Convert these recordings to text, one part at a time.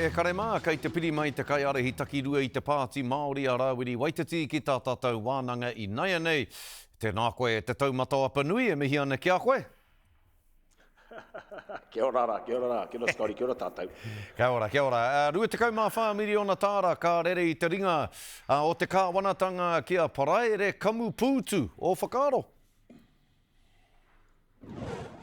E kare mā, kei te piri mai te kaiārahi takirua i te Pāti Māori a Rāwiri Waititi ki tā tātou wānanga i naianei. Tēnā koe e te taumata o Apanui, e mihi ana ki a koe. Kia ora ra, kia ora ra, kia ora Scotty, kia ora tātou. Kia ora, kia ora. 24 miriona tāra ka rere i te ringa o te kāwanatanga ki a Paraire Kamupūtu. Ō whakaaro?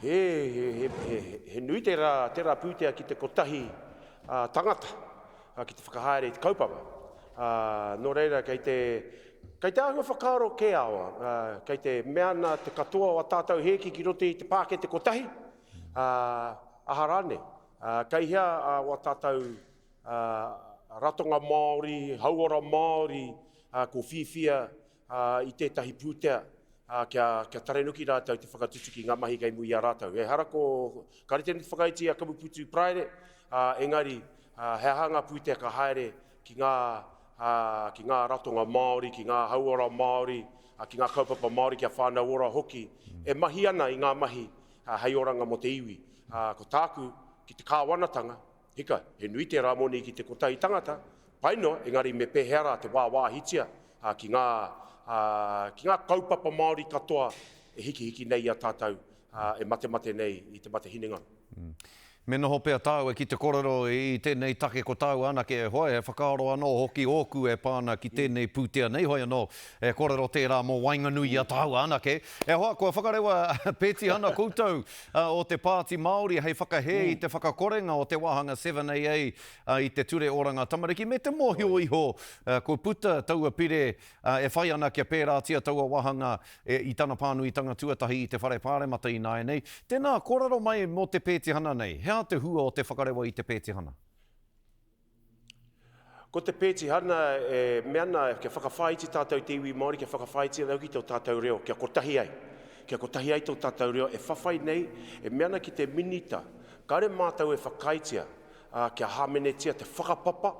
He, he, he, he, he nui te rā, te rā pūtea ki te kotahi uh, tangata uh, ki te whakahaere i te kaupapa. Uh, nō reira, kei te, kei te āhua whakaaro kē awa, uh, kei te mea ana te katoa o a tātou hēki ki roto i te pāke te kotahi, uh, aha rāne, uh, kei hea uh, o a tātou uh, ratonga Māori, hauora Māori, uh, ko whiwhia, ā, i tētahi pūtea, ā, kia, kia tarenuki rātou te whakatutuki i ngā mahi kei muri i a rātou. Ehara ko, ka rite anō te whakaiti i a Kamupūtū Praere, ā, engari, ā, he aha ngā pūtea ka haere ki ngā, ā, ki ngā ratonga Māori, ki ngā hauora Māori, ā, ki ngā kaupapa Māori, ki a Whānau Ora hoki, e mahi ana i ngā mahi, ā, hei oranga mō te iwi. Ā, ko tāku, ki te Kāwanatanga, Hika, he nui tērā moni ki te kotahi tangata, pai noa, engari me pēhea rā te wāwāhitia ki ngā, ki ngā kaupapa Māori katoa e hikihiki nei i a tātou, e matemate nei i te mate hinengaro. Me noho pea tāu e ki te kōrero i tēnei take ko tāu anake e hoe, he whakaaro anō hoki ōku e pā ana ki tēnei pūtea nei, hoi anō, e kōrero tērā mō waenganui i a tāua anake. E hoa, kua whakarewa pētihana koutou A, o te Pāti Māori hei whakahē i te whakakorenga o te wāhanga 7AA a, i te Ture Oranga Tamariki me te mōhio iho a, kua puta taua pire a, e whai ana kia pērātia taua wāhanga e, i tana pānuitanga tuatahi i te Whare Pāremata ināianei. Tēnā, kōrero mai mō te pētihana nei, he aha te hua o te whakarewa i te pētihana? Ko te pētihana e mea ana kia whakawhāiti tātou te iwi Māori, kia whakawhāiti anō ki tō tātou reo, kia kotahi ai. Kia kotahi ai tō tātou reo e whawhai nei, e mea ana ki te Minita, kāore mātou e whakaaetia kia hāmenetia te whakapapa,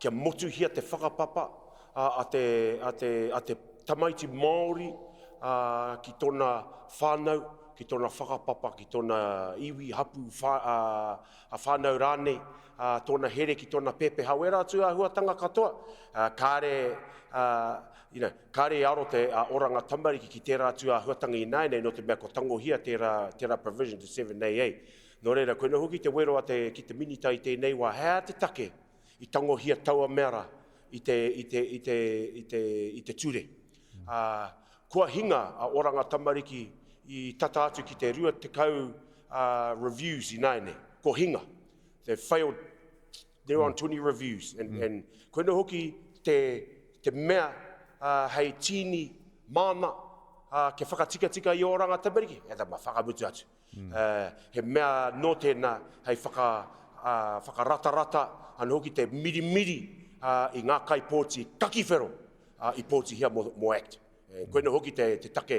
kia motuhia te whakapapa a te, a te, a te tamaiti Māori ki tōna whānau, ki tōna whakapapa, ki tōna iwi, hapū, wha, ā-whānau rānei, ā, tōna here ki tōna pepeha, wērā atu āhuatanga katoa, ā, kāre, ā, you know, kāre i aro te ā, oranga tamariki ki tērā atu āhuatanga ināianei nō te mea kua tangohia tērā, tērā provision, te 7AA. Nō reira, koinei hoki te wero a te, ki te Minita i tēnei wā, he aha te take i tangohia taua mea rā i te, i te, i te, i te, i te ture. ā, kua hinga a Oranga Tamariki i tata atu ki te 20 reviews ināianei, ko hinga, they've failed, they're on 20 reviews, and koinei hoki te mea hei tīni māna kia whakatikatika i Oranga Tamariki, he tama, whakamutu atu. He mea nō tēnā hei whakaratarata anō hoki te mirimiri i ngā kaipōti kaki whero i pōtihia mō act. Koinā hoki te take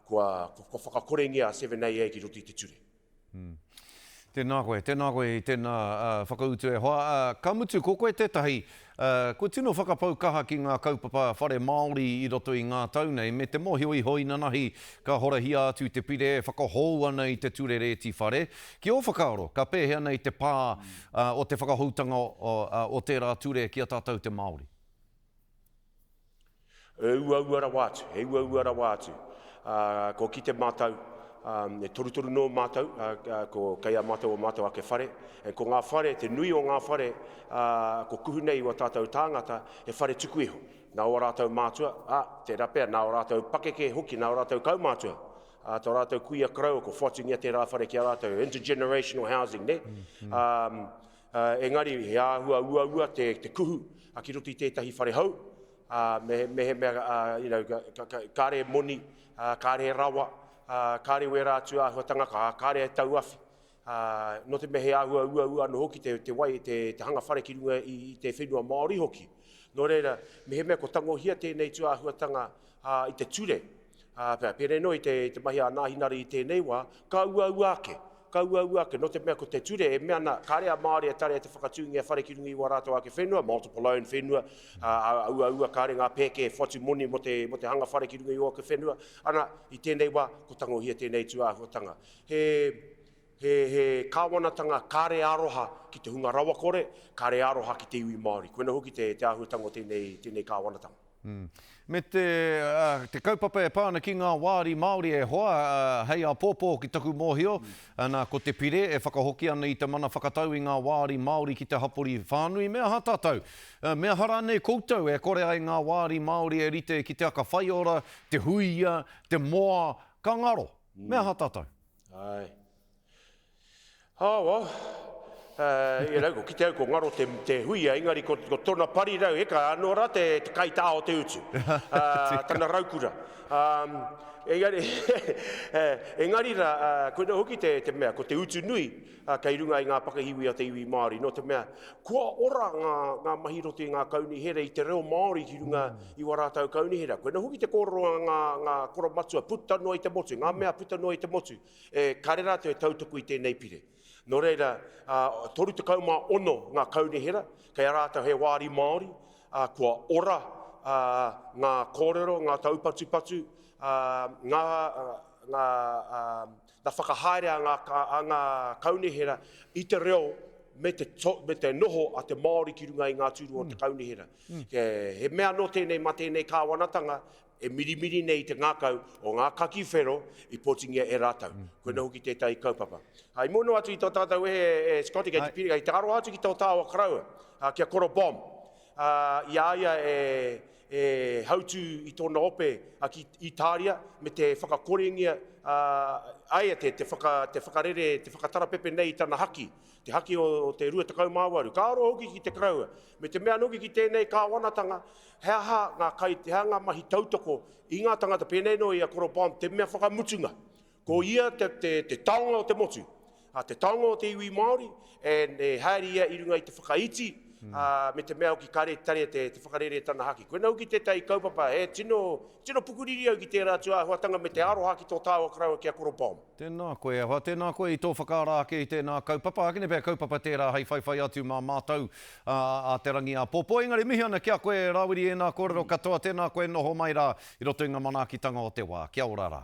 kua whakakorengia a 7AA ki roto i te ture. Tēnā koe, tēnā koe i tēnā whakautu e hoa. Ka mutu, ko koe tētahi kua tino whakapau kaha ki ngā kaupapa whare Māori i roto i ngā tau nei, me te mōhio iho inanahi ka horahia atu te pire e whakahou ana i te ture rēti whare. Ki ō whakaaro, ka pēhea nei te pā o te whakahoutanga o tērā ture ki a tātou te Māori? He uaua rawa atu, he uaua rawa atu. Kua kite mātou, e torutoru nō mātou, ko kei a mātou o mātou ake whare, and ko ngā whare, te nui o ngā whare ko kuhu nei i wā tātou tāngata, he whare tuku iho. Nā o rātou mātua, ā, tērā pea, nā o rātou pakeke hoki, nā o rātou kaumātua, ā, tō rātou kuia karaua kua whatingia tērā whare ki a rātou, intergenerational housing, nē? Engari, he āhua uaua te kuhu ki roto i tētahi whare hou, mehemea kāre moni, kāre rawa, kāre wērā atu āhuatanga, kāre e tauawhi. Nō te mea he āhua uaua anō hoki te wai, te hanga whare ki runga i te whenua Māori hoki. Nō reira, mehemea ko tangohia tēnei tū āhuatanga Ā, i te ture, ā, pea, pēnei noa i te, te mahi a ana hinari i tēnei wā, ka uaua ake, ka uaua ake, nō te mea ko te ture e mea ana, kāre a Māori e tarea te whakatūngia whare ki runga i wā rātou ake whenua, multiple own whenua, ā, a uaua kāre ngā pēke e whatu moni mō te, mō te hanga whare ki runga i ō ake whenua, ana, i tēnei wā, ko tangohia tēnei tūāhuatanga. He, He he kāwanatanga kāre aroha ki te hunga rawakore, kāre aroha ki te iwi Māori. Koina hoki te te āhuatanga o tēnei tēnei kāwanatanga. Me te te kaupapa e pā ana ki ngā wāri Māori e hoa hei apōpō ki taku mōhio, nā ko te pire e whakahoki ana i te mana whakatau i ngā wāri Māori ki te hapori whānui me aha tātou, me aha rānei koutou e kore ai ngā wāri Māori e rite ki te aka whaiora, te huia, te moa, ka ngaro. Me aha tātou? Ae. Awa, e rau, ko kite au ko ngaro te, te huia, engari ko, ko tona pari rau, eka, ano ra te, te kaita o te utu. tana raukura. Um, engari, engari ra, uh, koina hoki te, te mea, ko te utu nui, ā, kei runga i ngā pakihiwi a te iwi Māori, nō te mea, kua ora ngā, ngā mahi roto i ngā kaunihera, i te reo Māori ki runga i wā rātau kaunihera. Koina hoki te kōrero a ngā, ngā koromatua, puta noa i te motu, ngā mea puta noa i te motu, e, kāre rātau e tautoko i tēnei pire. Nō reira, ā, 36 ngā kaunihera, kei a rātau he wāri Māori, ā, kua ora, ā, ngā kōrero, ngā taupatupatu, ā, ngā, ngā, ā, Na whakahaere a nga a nga kaunihera i te reo me te me te noho a te Maori ki runga i nga turua o te kaunihera. He mea ano tenei ma tenei kawanatanga e mirimiri nei i te ngakau o nga kaki whero i potingia e ratou. Koina hoki tetahi kaupapa. I mua noa atu i to tatou wehe e Scotty kei te piri, kei te aroha atu ki to taua karaua, ki a Koro Bomb. ā, i a ia e, e hautū i tōna ope a ki Itāria me te whakakorengia, ā, ai a te, te, whaka, te whakarere, te whakatarapepe nei i tana haki, te haki o, o te 28. Ka roa hoki ki te karaua, me te mea noke ki tēnei kāwanatanga, he aha ngā kai, he aha ngā mahi tautoko i ngā tangata pēnei noa i a Koro Bond, te mea whakamutunga, Ko ia te taonga o te motu, te taonga o te iwi Māori, and e haere ia i runga i te whakaiti, me te mea hoki ka retare te whakareretanga haki. Koinei hoki tētahi kaupapa e tino pukuriri au ki tērā atu āhuatanga me te aroha ki tō tāua karaua ki a Koro Bomb. Tēnā koe, ahakoa tēnā koe i tō whakaara ake i tēnā kaupapa, ākene pea kaupapa tērā hei whaiwhai atu mā mātou a Te Rangi Āpōpō. Engari mihi ana ki a koe Rāwiri ēnā kōrero katoa, tēnā koe noho mai rā i roto i ngā manaakitanga o te wā. Kia ora rā.